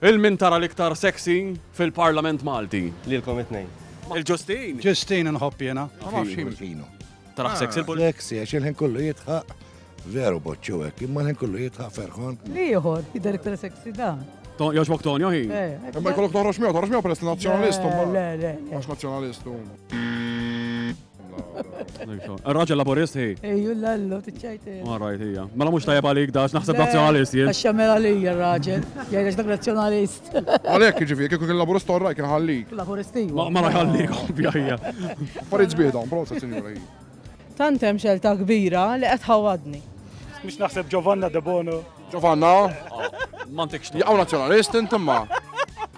Il min tara l-iktar sexy fil parlament Malti? Lilkom it tnejn. Il Ġustin? Ġustin inħobb jiena. Ma nafx jien. Tarah sexy l-pul. Sexy għax il ħin kollu jidħaq. Veru boċċu hekk, imma l ħin kollu jidħaq ferħan. L-ieħor jidher iktar sexy dan. Jogħġbok Tonio hi? Imma jkollok toħroġ miegħu, toħroġ miegħu peress li nazzjonalist imbagħad. Le, le, le. Għax nazzjonalist hu. Raġel laburist hi. Ejju l-allu, t-ċajt. Ma rajt hija. Mela mux tajab għalik dax, naħseb nazjonalist jien. Għaxa mela li hija raġel, jgħidx dak nazjonalist. Għalek ġifi, kieku kien laburist torra kien ħallik. Laburisti. Ma rajt ħallik, ovvja hija. Farid zbieda, prosa sinjura hi. Tantem xelta kbira li qed ħawadni. Mux naħseb Giovanna de Bono. Giovanna? Mantik xtu. Jgħaw nazjonalist intimma.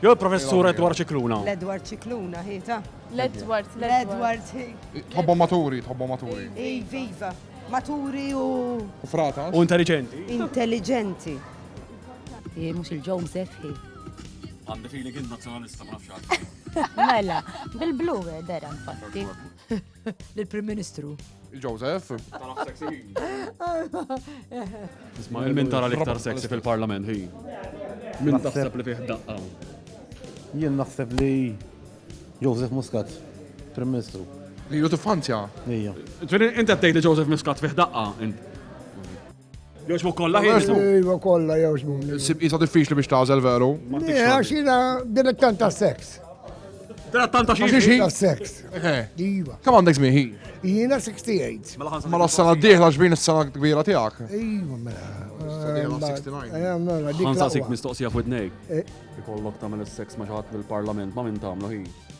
Jew il-professur Edward Cicluna. L-Edward Cicluna, hi ta? L-Edward, l-Edward. Tħobbu maturi, tħobbu maturi. Iva, maturi u. U frata. U intelligenti. Intelligenti. Mux il-ġom sefħi. Għandi fili kien nazjonalista ma nafx Mela, bil-blu eh, dera infatti. L-Prim Ministru. Joseph. Isma' il-min tara l-iktar sexy fil-parlament, hi. Min taħseb li fih daqqa. Jien naħseb li Joseph Muscat, Prim Ministru. Li ju tiffanzja. Ija. Ġveri, inti għattejt li Joseph Muscat fih daqqa. Jogħġbu kollha jogħġbu. Iva kollha jogħġbu. Sib isa diffiċli biex tażel veru. Għax jiena dilettant ta' seks. Dilettant ta' xi ta' seks. Iva. Kemm għandek żmien ħin? Jiena 68. Mela, mela s-sena d-dieħla xbin is-sena kbira tiegħek. Iva mela. Ħansa sik mistoqsija fuq id-nej. Eh. Ikollok tagħmel is-seks ma' xi ħadd mill-parlament ma' min tagħmlu ħin.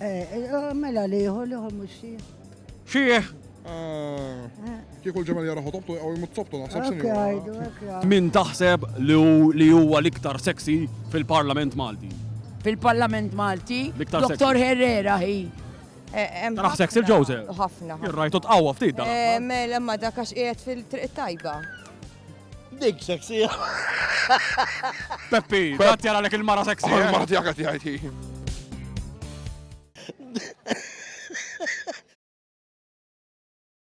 Eh, eh, mela liħor, liħor mux xieħ. Xieħ! Ah. Kieku l-ġemel jara ħotobtu għaw jmut sobtu naħseb sinjura. Min taħseb li huwa l-iktar sexy fil-Parlament Malti? Fil-Parlament Malti? Dr. Herrera hi. Eh, Taraħ sexy il-ġoze? Ħafna. Irrajtu tqawwa ftit da. Mela ma dakax qiegħed fil-triq tajba. Dik sexy. Peppi, għat jara lek il-mara sexy. Oh, eh? Il-mara tijak għat jgħajti.